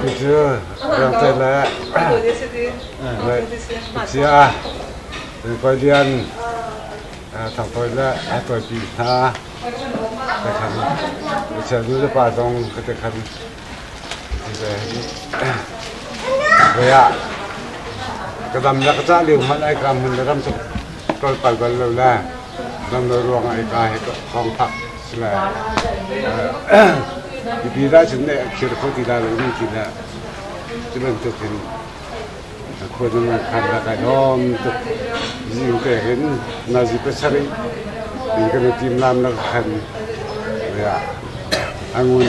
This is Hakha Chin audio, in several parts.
Cucu rengte le Lucia Tuikualian Thangtawi le Tuaipi hna ka khan Lucia nu le pa zong ka te khan Voi ah ka dam le ka cah lio hmanh ai ka hmun le ram tu tol pal bal lo le dam lo ruang ai ka he thawng thak Mipi ralchung nih a kir khawh ti la lengmang ti le cu bantuk in khua dang an khan lak ai lawm tuk zing te hin nazi pasarih in kan team lam la khan ya angun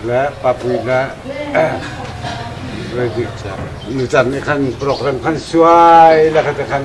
le papui le nu cang khan program khan suai la khat khan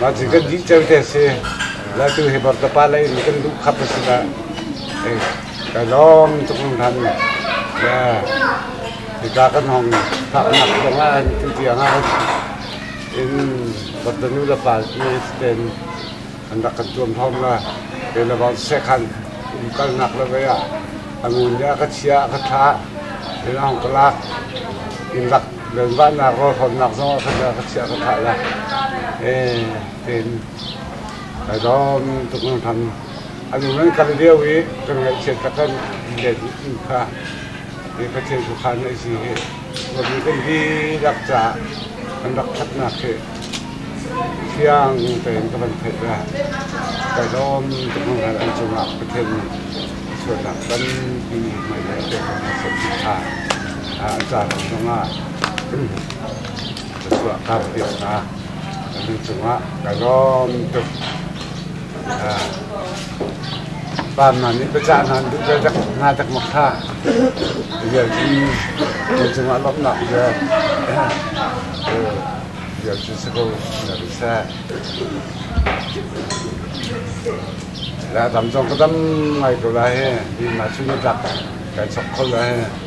Mah cu kan dih ceu te a si. Latu hi Bartapa lei in kan duh khap a si dah. Kai lawm tuk mun han. Ya. Hika kan hong faknak zongah an tu tiangah in Bartanu le pa ne ten an rak kan tuam thawm la. Kei le bang sekhan umkalnak le vei ah a ngun le a ka chia a ka thla in a hong ka lak. Inn lak Ganzahnak rawlhrawnnak zong ah khan ka chiah ka thlah lai. Eh, tiin kai dawm tuk nangthan. A nu nan kal lio i kan ngaihchiat ka kan let in kha i Pathian khuakhan a si hi Kawlmi kan dihlak caah kan rak thatnak hi fiang tein ka van theih ve. Kai dawm tuk nangthan an cungah Pathian nih a sualnak tampi mai le pek kan sak ṭha. Thla a tlak hnuah ka chuah ka piak hna. Ka lu cungah ka lawm tuk. Ah. Panman nih biacah hna an duh ve dak hna dak ma kha. Vialci kan cungah lawmhnak ve. Vialci si ko na bi sa. La dam zong ka dam ngai ko la he. Di ma cu na dak kan sok kho la he.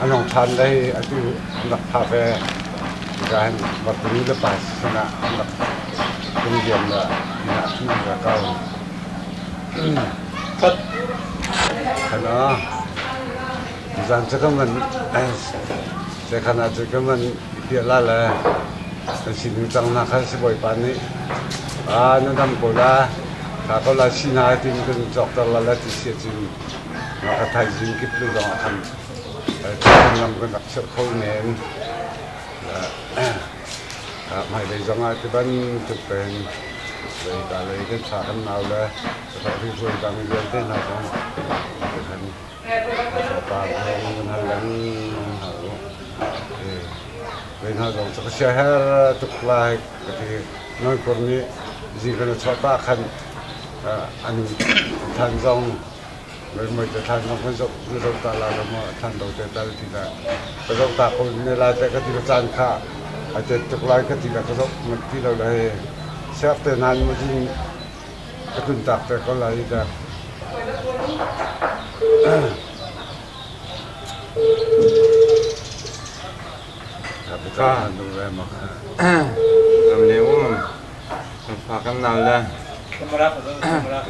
A nung ṭhan lai atu an rak thah ve. Irain Vakuni le pa sin ah an rak tlung diam le inn ah cun an ra ko. Pat! Khana, zan cu ka man, zekhana cu ka man piahla le nan sining cang hna kha sibawipa nih aa na dam ko la, kha ko la si hna ti in kan cawkter la la ti si ahcun A thaizing kip le zong ah khan lam kan rak chiah kho men. Hmailei zong ah ti bantuk tein zeitalei kan sa kan nau le ribuai dang vialte hna zong khan thawngpang kan hal leng hna u. Kei hna zong cu ka siaherh tuk lai ka ti. Non kur nih zi kan chuah pah khan an than zong muismuai te than zong kan zoh na zoh ta la lo maw than do te tal ti la ka zoh ta ko ne lai te ka ti ka caan kha a tet tuk lai ka ti la ka zoh mat ti lo le siap te nan mu jin ka tun tak te ko lai da Fa kan nal le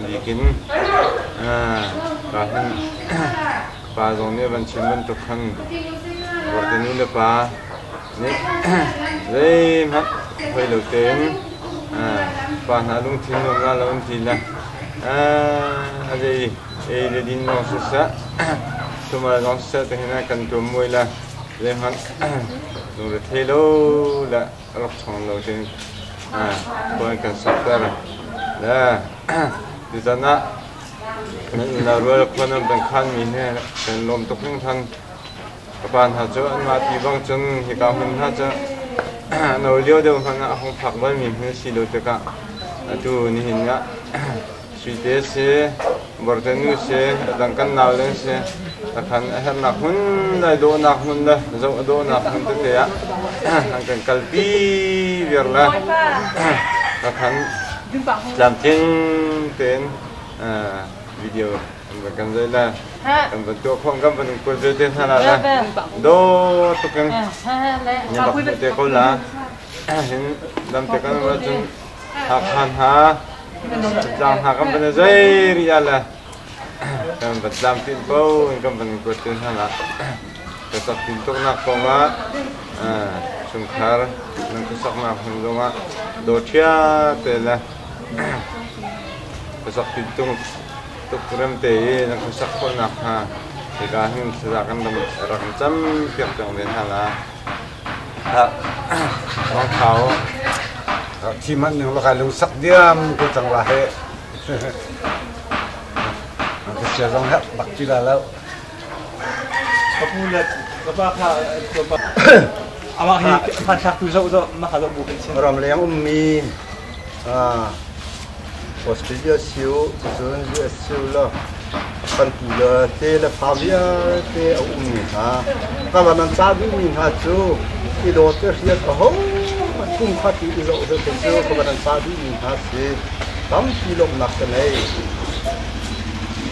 nikin ka hman pa zong nih van chim bantuk khan ruahte nu le pa nih zeihmanh hoi lo tein pa hna lungthin nuam nga lo an ti le a zei ei le din zong siseh tumal zong siseh tihin kan tuam mui le Zeihmanh lungrethei lo le rak ṭhawng lo ding khua kan sakter. Le tutan ah kan unau rual khua nan van khanmi he kan lawm tuk hringthan. Ka pa hna cu anmah ti bang cun hika hmun hna cu no lio deuh hmanh ah a hung phak balmi hmun a si lo tikah atu nihin ah Suite si, Bortenu si, adang kan nau le si, takhan a herhnak hmun le dawhnak hmun le zoh a dawhnak hmun tete ah an kan kalpi viar le takhan tlamtling tein video an van kan zai le kan van tuah khawng kan van kual zai te hna la le dawr tuk in nyabak te ko la hin dam te kan wa cun Hakha hna, Thantlang hna kan van i zei ri ah le kan van tlamtlin ko in kan van i kuat te hna nak ka saktin tuknak kong ah eh, chungkhar nan kasaknak hmun zong ah dawṭia te le kasaktin tung tuk remte i nan kasak khawhnak hnga hika hin saza kan rak in cam piak cang ve hna la Thi hmanh ning lakai lungsak diam ko cang la hi. Ka sia zong herh bak ti la lo. Amah hi phan thlak tu zo zo mah ha zo bu kan chen. Ram leng ummi Australia sio, cucun USA law kan ti le te le fa vialte a ummi hna, kan ram an car duhmi hna cu i dawt i hriat a ho thumkhat i i zoh hlah kei cu ka van an car duhmi hna si tampi lawmhnak ka ngei.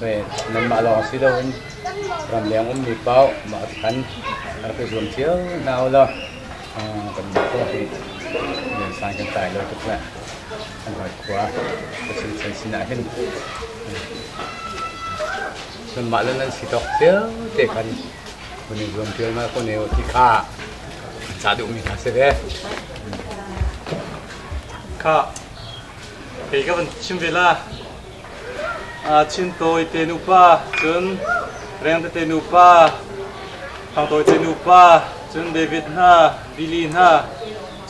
nanmah lawng si loin ramleng ummi paoh mah thlan a rak i zuam cio hna u law kanmah khua hi liansang kan tlai lo tuk le kan hawi khua ka chin sinah hin nanmah le nan si tawk cio te kan kan i zuam ṭial ma ko ne ti kha kan ca duhmi hna si ve kha kei ka van chim ve la Chintawi te nupa cun Rengtete nupa, Thangtawi te nupa cun David hna, Billy hna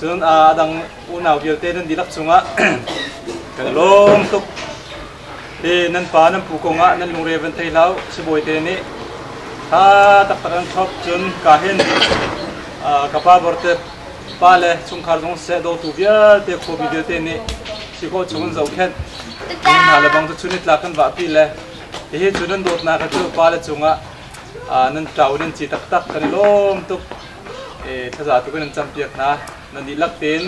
cun a dang unau vialte nan dihlak cungah kan lawm tuk. Hi nan pa nan pu kongah nan lungre van thei hlah u, sibawi te nih tha taktak an thlop cun ka hin ka pa Bortep Pa le chungkhar zong seh dawtu vialte khuapi vialte nih si khawh chung in zohkhenh. Hi hna le bang cu chun itlak kan vahpi le hihi cu nan dawtnak cu pa le cungah nan tlau in nan ci taktak kan i lawm tuk thaza tu kan in campiak hna nan dihlak tein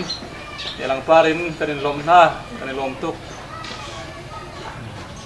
langpar in kan in lawm hna kan i lawm tuk